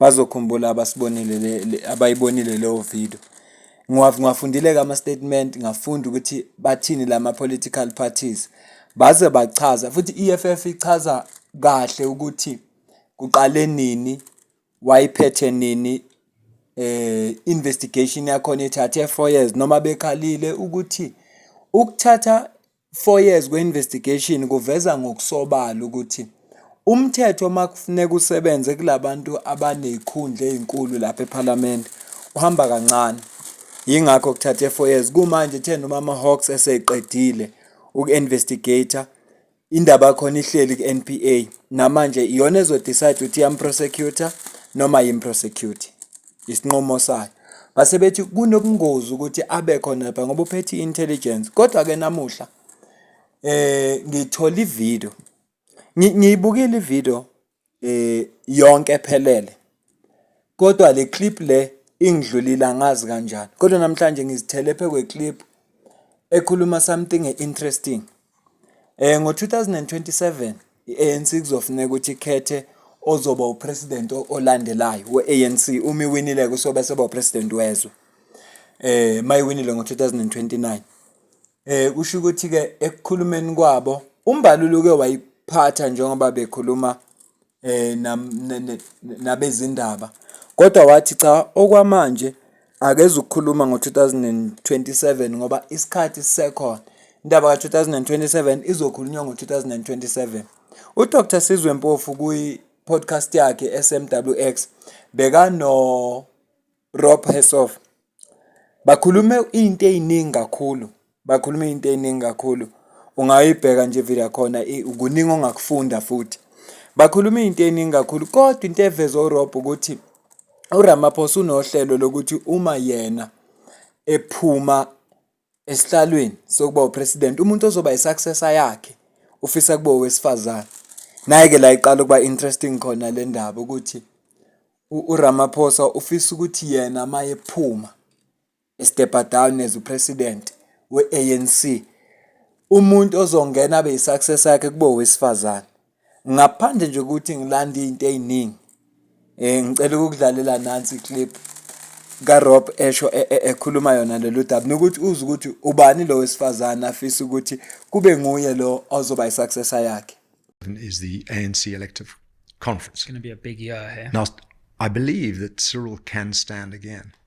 Bazokhumbula abasibonile le abayibonile leyo video. Ngiwafundile-ke ama-statement ngafunda ukuthi bathini lama-political parties. Baze bachaza futhi i-E_F_F ichaza kahle ukuthi kuqale nini, wayiphethe nini, investigation yakhona ithathe four years noma bekhalile ukuthi ukuthatha four years kwe-investigation kuveza ngokusobala ukuthi umthetho uma kufuneka usebenze kula bantu abaney'khundla ey'nkulu lapha ephalamende uhamba kancane yingakho kuthathe four years kumanje uthe noma ama-hawks eseyiqedile uku-investigator indaba yakhona ihleli ku-n p a namanje iyona ezodecide ukuthi yamprosecutor noma yimprosecute isinqumo sayo base bethi kunobungozi ukuthi abe khona lapha ngoba uphethe i-intelligence kodwa-ke namuhla eh ngithola ivideo ngiyibukile ivideo eh yonke ephelele kodwa le clip le ingidlulile angazi kanjani kodwa namhlanje ngizithele phe kwe clip ekhuluma something interesting Eh ngo-2027 i-ANC kuzofuneka ukuthi ikhethe ozoba upresident olandelayo we-ANC uma iwinile kusobe soba upresident wezwe. Eh mayiwinile ngo-2029. Eh kusho ukuthi ke ekukhulumeni kwabo uMbalulu ke wayiphatha njengoba bekhuluma eh nabezindaba kodwa wathi cha okwamanje akeze ukukhuluma ngo-2027 ngoba isikhathi sisekhona indaba ka-2027 izokhulunywa ngo-2027 udr sizwe mpofu kwi-podcast yakhe esemwx bekano Rob Hessoff bakhulume into ey'ningi kakhulu bakhulume into ey'ningi kakhulu ungayibheka nje ivile yakhona kuningi ongakufunda futhi bakhuluma into ey'ningi kakhulu kodwa into eveze uRob ukuthi uRamaphosa unohlelo lokuthi uma yena ephuma esihlalweni sokuba upresident umuntu ozoba i-successor yakhe ufisa kube owesifazane. Nayi-ke la iqala ukuba interesting khona le ndaba ukuthi uRamaphosa ufisa ukuthi yena uma ephuma e-step-a down as upresident we-ANC, umuntu ozongena abe yi-successor yakhe kube owesifazane. ngaphandle nje ukuthi ngilanda izinto eziningi eh ngicela ukudlalela nansi clip kaRob esho e, e, ekhuluma yona lolu daba nokuthi uze ukuthi ubani lo wesifazane afisa ukuthi kube nguye lo ozoba isuccessor yakhe is the ANC elective conference it's going to be a big year here now I believe that Cyril can stand again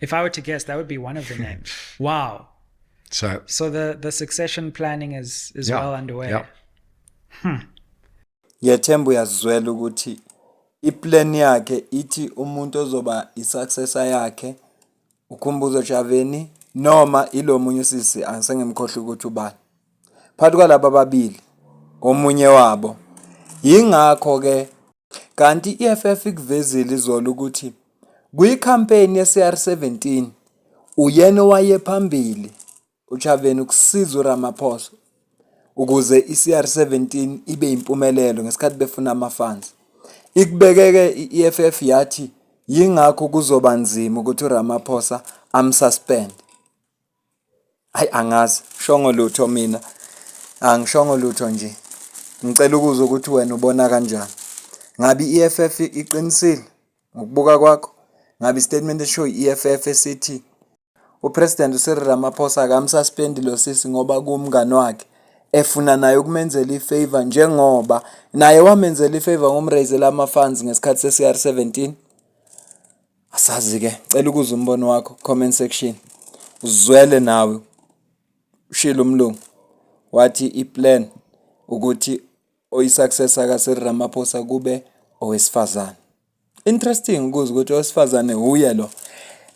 If I were to guess, that would be one of the names. wow. So, so the, the succession planning is, is yeah, well underway. Yeah. Hmm. Ngiyethemba uyazizwela ukuthi iplan yakhe ithi umuntu ozoba i-successor yakhe uKhumbuzo Javeni noma ilo munye usisi angisengimkhohlwa ukuthi ubani. phakathi kwalaba ababili omunye wabo yingakho ke kanti i-EFF ikuvezile izolo ukuthi kwikhampeyini ye-CR17 uyena owaye phambili uChaveni ukusiza uRamaphosa ukuze i-CR17 ibe impumelelo ngesikhathi befuna amafansi ikubekeke i-EFF yathi yingakho kuzoba nzima ukuthi uRamaphosa amsuspend Hayi angazi shongo lutho mina angishongo lutho nje ngicela ukuzwa ukuthi wena ubona kanjani ngabe i-EFF iqinisile ngokubuka kwakho ngabe istatement eshow i-EFF esithi upresident uCyril Ramaphosa akamsuspendi lo sisi ngoba kuwumngani wakhe efuna naye ukumenzela ifavor njengoba naye wamenzela ifavor ngomrayizela ama-funds ngesikhathi se-CR 17 asazi ke cela ukuza umbono wakho comment section uzwele nawe ushilo umlungu wathi iplan ukuthi oyisuccessor ka Cyril Ramaphosa kube owesifazane interesting ukuze ukuthi owesifazane uye lo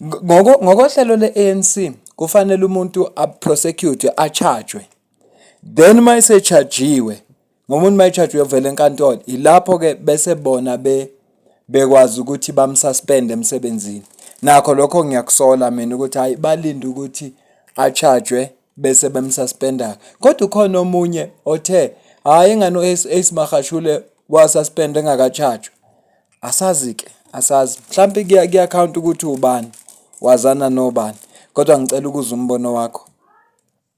ngoko ngokohlelo le-ANC kufanele umuntu a prosecute a charge then uma esechargiwe ngomuntu mayitshaje uyovela enkantolo ilapho ke bese bona be bekwazi ukuthi bamsuspend emsebenzini nakho lokho ngiyakusola mina ukuthi hayi balinde ukuthi achajwe bese bemsuspenda kodwa ukhona omunye othe hayi ngani uAce Magashule wasuspend engakachajwa asazi ke asazi mhlawumbe kuyaccount ukuthi ubani wazana nobani kodwa ngicela ukuza umbono wakho